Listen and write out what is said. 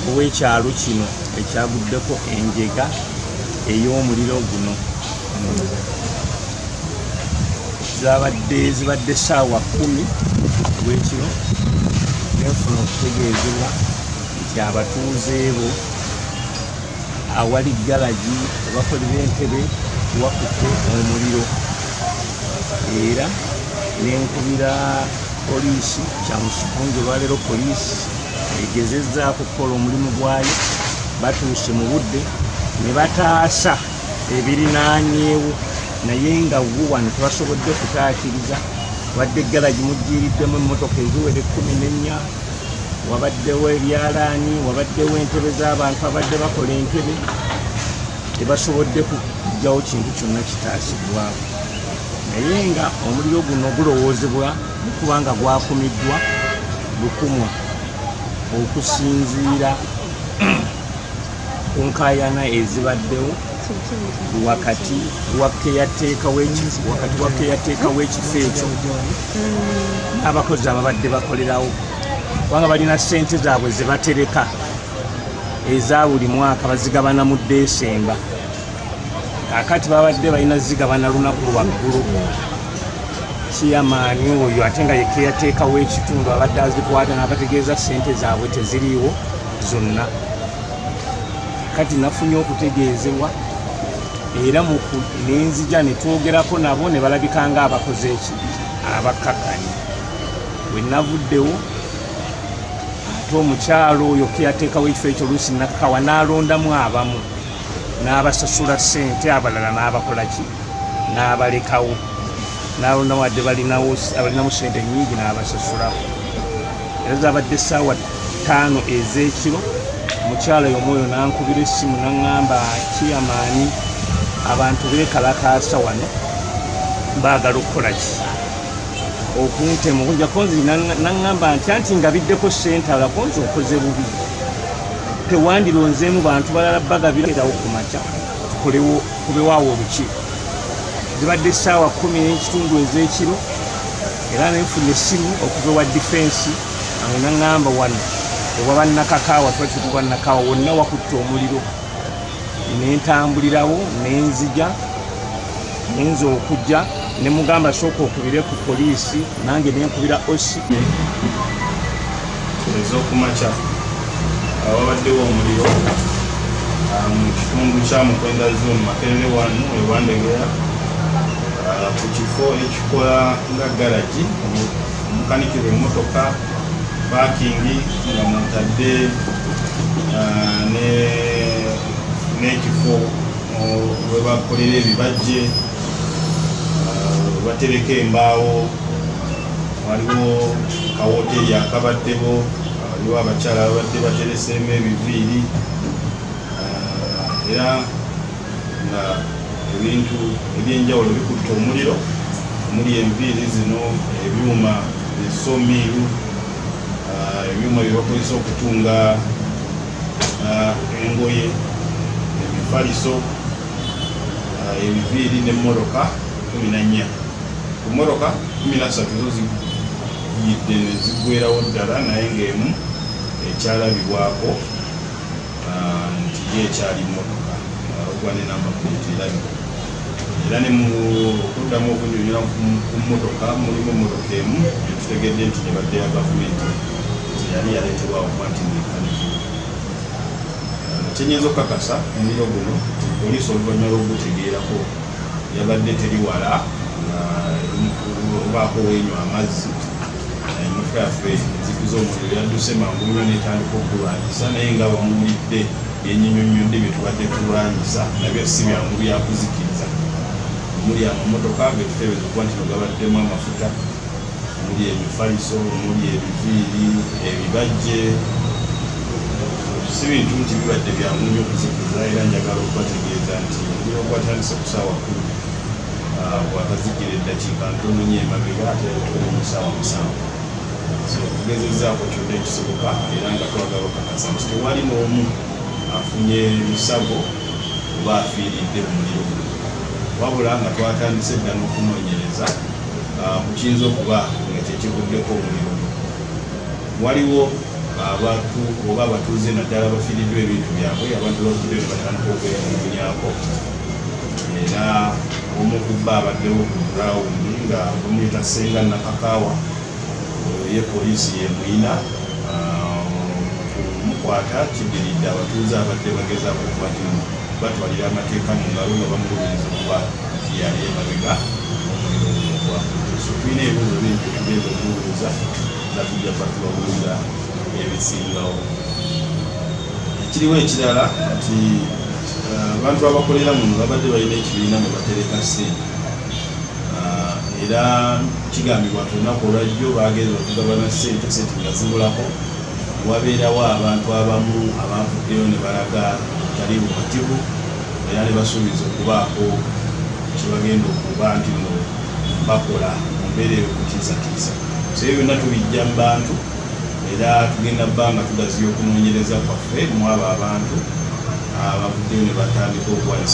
ow'ekyalo kino ekyaguddeko enjega ey'omuliro guno zabadde zibadde saawa kumi wekiro nefuna okutegeezebwa nti abatuuze bo awali galagi abakolera entebe wakutte omuliro era nenkubira Poliisi kyamusiko nge lwaleero poliisi egezezzaako okukola omulimu gwayo batuuse mu budde ne bataasa ebirinaanyeewo naye nga wo wano tebasobodde kutaakiriza wadde galagi mujjiiriddemu emmotoka eziwera ekkumi n'ennya wabaddewo ebyalaani wabaddewo entebe z'abantu abadde bakola entebe tebasobodde kujjawo kintu kyonna kitaasibwawo naye nga omuliro guno gulowoozebwa kuba nga gwakumiddwa lukumwa okusinziira ku nkayana ezibaddewo wakati wakeyateeka w'ekifo ekyo n'abakozi ababadde bakolerawo kubanga balina ssente zaabwe zebatereka eza buli mwaka bazigabana mu desemba kakati babadde balina ziga banalunaku lwaggulu kiyamaani oyo ate nga yekeyateekawo ekitundu abadde azikwata nabategeeza sente zaabwe teziriiwo zonna kati nafunye okutegeezebwa era nenzija netwogerako nabo nebalabika nga abakoze eki abakkakkanye wenavuddewo ate omukyalo oyo keyateekawo ekifo ekyo luusi nakkawa nalondamu abamu n'abasasula ssente abalala n'abakola ki n'abalekawo nalona wadde balinawo abalinamu ssente nyingi n'abasasulawo era zabadde essaawa ttaano ez'ekiro omukyala yomwoyo nankubira essimu naŋŋamba kiyamaani abantu beekalakaasa wano baagala okukola ki okuntemu kunjakonzi naŋŋamba nti anti nga biddeko ssente alakonzi okoze bubi tewandironzeemu bantu balala bagabirawo ku makya tukolewo kubewaawo olukiiko zibadde essaawa kumi n'ekitundu ez'ekiro era nenfuna essimu okuva ewa difensi awo naŋŋamba wano oba bannakakaawa tuba tuti bannakaawa wonna wakutte omuliro nentambulirawo nenzija nenza okujja nemugamba sooka okubire ku poliisi nange nenkubira osi ezokumakya awabaddewo omuliro ah, mu kitundu kya mukwenda zoon makerere wanu ewandegera ah, ku kifo ekikola nga garagi omukanikirwa emotoka pakingi nga mutadde ah, n'ekifo webakolera ebibajje webatereka uh, embaawo waliwo kawoteri akabaddewo waliwo abakyala babadde batereseemu ebiviiri uh, era nga ebintu ebyenjawulo bikutte omuliro omuli enviiri zino ebyuma esomiiru uh, ebyuma byebakozesa okutunga ah, engoye ebifaliso ah, ebiviiri ne mmotoka kumi na nnya ku mmotoka kumi na ssatu zo ziyidde ne ziggwerawo ddala naye ng'emu ekyalabibwako ah, nti ye ekyali mmotoka ogwa ne namba puleeti erabibwa era ne mu okuddamu okunyonyola ku mmotoka mulimu emmotoka emu etutegedde nti nebadde ya gavumenti nti yali yaleeterwa okuba nti nekaniki kyenyinza okukakasa omuliro guno nti poliisi oluvannyuma lwokugutegeerako yabadde teri wala obaako wenywa amazzi emmotoka yaffe nzikiza omuliro yadduse mangu nyo netandika okugulwanyisa naye nga bamuwulidde Yenyinyonnyodde bye tubadde tulwanyisa nabyo si byangu byakuzikiriza omuli amamotoka getuteebereza okuba nti nogabaddemu amafuta omuli emifaliso omuli ebiviiri ebibajje si bintu nti bibadde byangu nyo okuzikiriza era njagala okubategeeza nti omuliro gwatandise kusaawa kumi ah, gwakazikira eddakiika ntononyo emabega ate tuli mu saawa musanvu tugezezaako kyonna ekisoboka era nga twagala okakasa nti tewali n'omu afunye lusago oba afiiridde mu muliro wabula nga twatandise dda n'okunoonyereza ku kiyinza okuba nga kyekivuddeko omuliro waliwo abantu oba abatuuze naddala bafiiriddwa ebintu byabwe abantu bafudde nebatandika okweyamumunyako era omu kubba abaddewo ku gurawundi nga bamuyita senga nakakaawa Ye poliisi y'e Muyina okumukwata kiddiridde abatuuze abadde bagezaako okuba kino batwalira amateeka mu ngalo nga bamulumiriza okuba nti yali emabega omuliro guno ogwakudde. So tulina ebibuuzo bingi bye tugenda okumubuuza nga tujja kuba tubabuuza ebisingawo. Ekiriwo ekirala nti abantu abakolera muno babadde balina ekibiina mwe batereka ssente. ah, era kigambibwa nti olunaku olwajjo bagenza okugabana sente sente nga zibulako wabeerawo abantu abamu abavuddeyo ne balaga tali bumativu era ne basuubiza okubaako kyebagenda okuba nti no bakola mu mbeera eyo kutiisatiisa so ebyo byonna tubijja mu bantu era tugenda bbanga tugaziya okunoonyereza kwaffe mu abo abantu abavuddeyo ne batandika okuwanisa